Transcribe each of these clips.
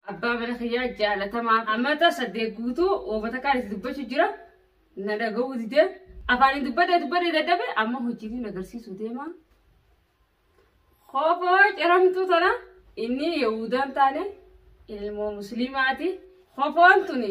Abbaa mana kiyyaa jaalatamaa amata saddeet guutuu uummata kaan itti dubbachuu jira. Na dhaga'uu didee afaaniin dubbadee dubbadee dadhabe amma hojiitiin agarsiisuu deema. Koofoo ciramtuu tana inni Yahudaan taane ilmoo musliimaati. Kofoon tuni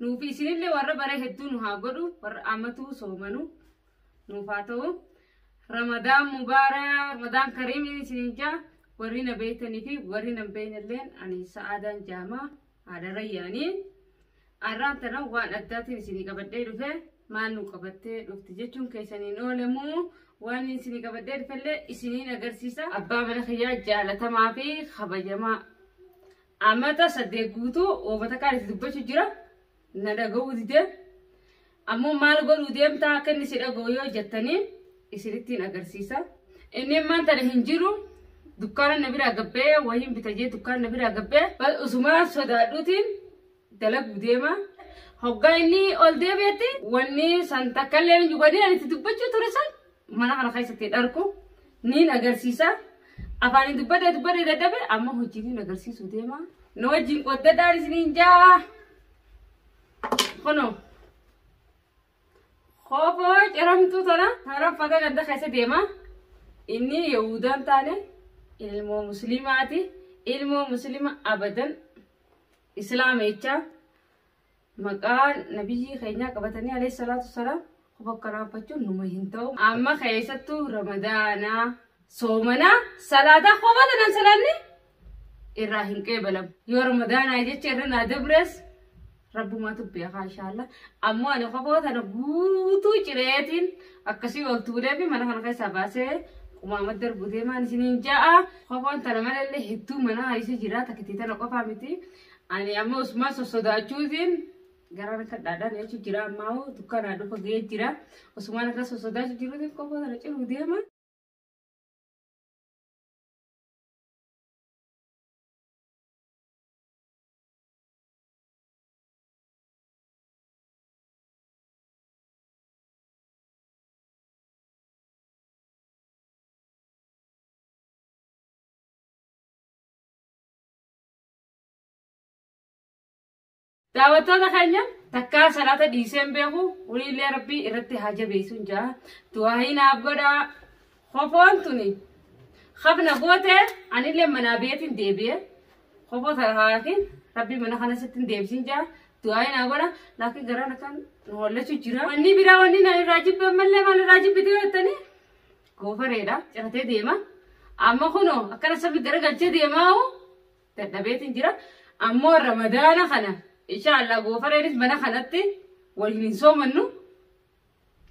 Nuufi isinillee warra baree hedduu nu haa godhu warra amatuu soomanu nuuf haa ta'u. Ramadaan mubaara Ramadaan kariim isiniin jaa warri na beeytanii fi warri nan beeynelleen ani sa'aadaan jaamaa haadha rayyaanii. Arraan tana waan addaatiin isinii qabadhee dhufe maal nu qabattee dhufti jechuun keessaniin oolemuu waan isinii qabadhee dhufellee isiniin agarsiisa. Abbaa mana kiyyaa jaalatamaa fi kabajamaa Amata saddeet guutuu Oobatakaan itti dubbachu jira. Na dhaga'uu dide. Ammoo maal godhuu deemtaa akka inni si dhaga'u yoo jettanii isinittiin agarsiisa. Inni immaan tana hin jiru. Dukkaana na biraa gabbee wahiin bita jee dukkaana na biraa gabbee. Usumaan sodaadhuutiin dalaguu deema. Hoggaa inni ol deebi'etti wanni san takka illee hin jibbadin ani itti dubbachuu ture san mana kana keessatti dharku niin agarsiisa. Afaaniin dubbadee dubbadee dadhabe amma hojiitiin agarsiisuu deema. Na wajjin qoddadhaan isiniin jaa. Kunoo. Koofoo ciramtuu tana haraffata ganda keessa deema. Inni Yahudaan taane ilmoo musliimaati. Ilmoo musliima abadan Islaama jecha maqaa nabiyyii keenyaa qabatanii alayhi salaatu salaam bakka raabbachuun numa hin ta'u. Amma keessattuu ramadaanaa soomanaa salaataa kophaa tanaan salaanni irraa hin qeebalamu. Yoo ramadaanaa jecha irra naa dabrees rabbumaatu beekaa inshaallah. Ammoo ani kophaa tana guutuu cireetiin akkasii ol tuulee fi mana kana keessaa baasee qumaama darbu deemaan isiniin ja'a. Kofoon tana malallee hedduu mana isa jira takkitii tana qofaa miti. Ani amma Usmaan sossodaachuutiin gara akka dhaadhaan jechu jira ammaa hoo dukkanaa dhufa ga'ee jira. Usmaan akka sossodaachuu jiruutiin kofoo tana ciruu deema. Daawwattoota keenya takkaa salaata dhiiseen beeku waliillee rabbii irratti haa jabeessuun jaa du'aayi naaf godhaa kofoon tuni hafna goote anillee manaa beetiin deebi'e kofoo sarahaatiin rabbii mana kana sitti hin deebisiin jaa du'aayi naa godha laakiin garaan akkan nu hollachu jira. Wanni biraa wanni na irraa jibbe ammallee maal irraa jibbite jettanii Goofareedha ciratee deema. Amma kunoo akkana sabbi garagalchee deemaa'u dadhabeetiin jira. Ammoo ramadaana kana inshaallah goofareenis mana kanatti waliin hin soomannu.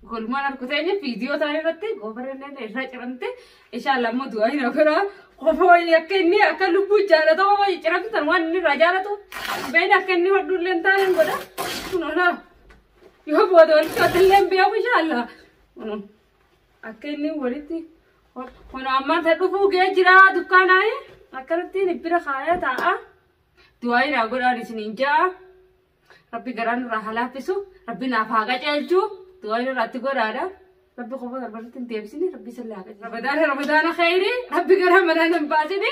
Kolmaan harku teenya viidiyoo taa'e irratti goofareen irraa ciramte inshaallah ammoo du'aa hin hafira. Qofoo akka inni akka lubbuu jaalatamu wayii ciramtu tan waan inni irraa jaalatu. Beeyni akka inni hodhuullee hin taane hin godha. Kunoo laa yoo booda walitti hodhallee hin beeku inshaallah. Kunoo. Akka inni walitti kun ammata dhufuu gee jira dukkaanaayi akkanattiin bira kaaya taa'a. Du'aayi naa godhaan isiniin ja'a. Rabbi garaa nurraa haa laaffisu. Rabbi naaf haa qajeelchu. Du'aayi nurraatti godhaadha. Rabbi qofa garbarratti hin deebisini. Rabbi isin laa qajeelchu. Rabadaana rabadaana khayri. Rabbi garaa manaa nan baasini.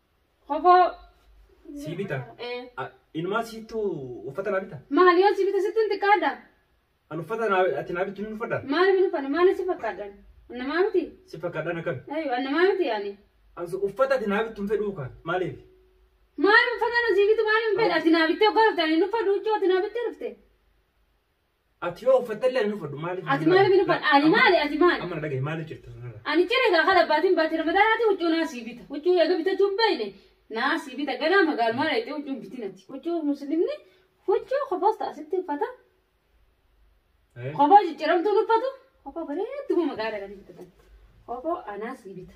Kofoo. Sii bita. Eh. A- Inumaa siittu uffata naa bita. Maal yoo si bita sittin xiqqaadha? An uffata naa ati naa bittu ni uffadha. Maaliif hin uffanne? Maaliif si fakkaadhan? Annamaa miti? Si fakkaadhaan akkami? Ayyo, annamaa miti yaani. An su- uffata ati naa bittu hin fedhuu kaa. Maaliif? Maaliif uffata na si bitu maaliif hin fedha? Ati naa bittee ogaa dhufte ani hin uffadhu huccuu ati naa bittee dhufte. Ati yoo uffatte illee hin uffadhu maaliif? Ati maaliif hin uffadhu? Ani maali? Ati maali? Amma na dhagahi maaliif jirta sanarra? Ani ciree kaa kan abbaatiin baatee ramadaanaati huccuu naa sii bita. Huccuu eega bitachuu hin beekne naa sii bita. Ganaa magaalumaa dheettee huccuu hin bitin ati. Huccuu muslimni huccuu kofoos ta'a sitti uffata. Eh? Kofoo jijjiiramtuun uffatu kofoo bareedduma magaalaa kan bitatan. Kofoo anaa sii bita.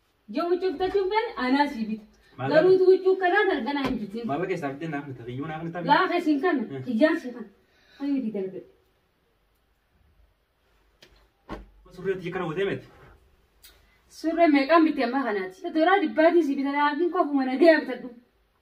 Yoo huccuu bitachuu hin feene anaa sii bita. Maallaqa- Garuu utuu huccuu kanaa galganaa hin bitin. Maallaqa keessaa fidee naaf bita. Kiyyuu naaf bita. Laafa isin kana Eh. kiyyaan si kana. Ani miti dalbe. Surree tiyya kana gootee miti. Surree meeqaan bitte amma kanaati. Doraa dhibbaatii sii bita laafiin koo akkuma nagayaa bitadhu.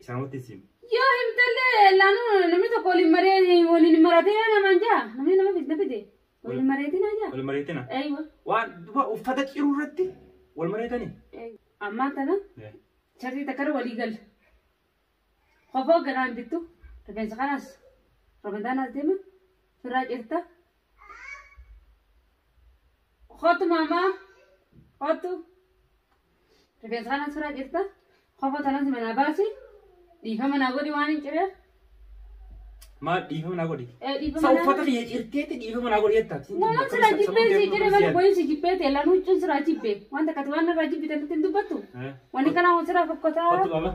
Isaan watti isin. Yoo himtallee laanu namni tokko waliin maree waliin maratee namaan jaa namni nama fidna fide waliin mareetiin haa jaa. Wal mareetina. Eeywa. Waan duba uffata ciruu irratti wal mareetanii. Ammaa tana sharrii takkara walii galla. Qofa hoogganaa hin bittu. Rifeensa kanaas ramadaanaas deema. Firraa cirta. Kootu maamaa. Kootu. Rifeensa kana sirra jirta. Kofa tanas manaa baasi. Dhiifama naa godhi waan hin cireef. Maal dhiifama naa godhi? Ee dhiifama Sa naa uffata godhi. kiyya cirteetti dhiifama naa godhi jettaa? Waan sirra jibbee sii jedhe malee boyin si jibbee ta'e lanuu huccuun sirraa jibbee. Waan takkati waan narraa jibbite nutti hin dubbattu. Wanni kanaa waan sirraa fokkotaa. Kottu qaba.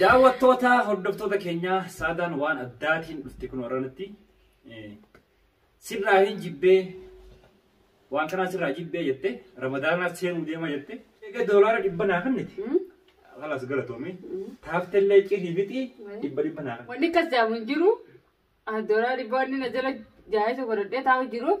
Daawwattoota hordoftoota keenyaa saadaan waan addaatiin dhufte kun warranatti sirraa hin jibbee waan kanaa sirraa jibbee jette ramadaanaa seenuu deema jette egaa doolaara dhibba naa kanniti kalas galatoomii taaftellee cirii fixii dhibba dhibba naa kanniti. Wanni akkas jaamu hin jiru. Doolaa dhibbaa inni na jala jaayee sokoradhee taa'u jiruuf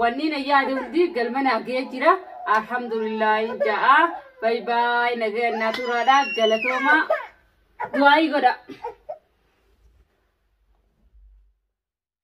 Wanni na yaade hundi galma naaf ga'ee jira. Alhamdulillahi ja'a. Bayi bayi nagaya naa turaadha galatooma. Du'aayii godha.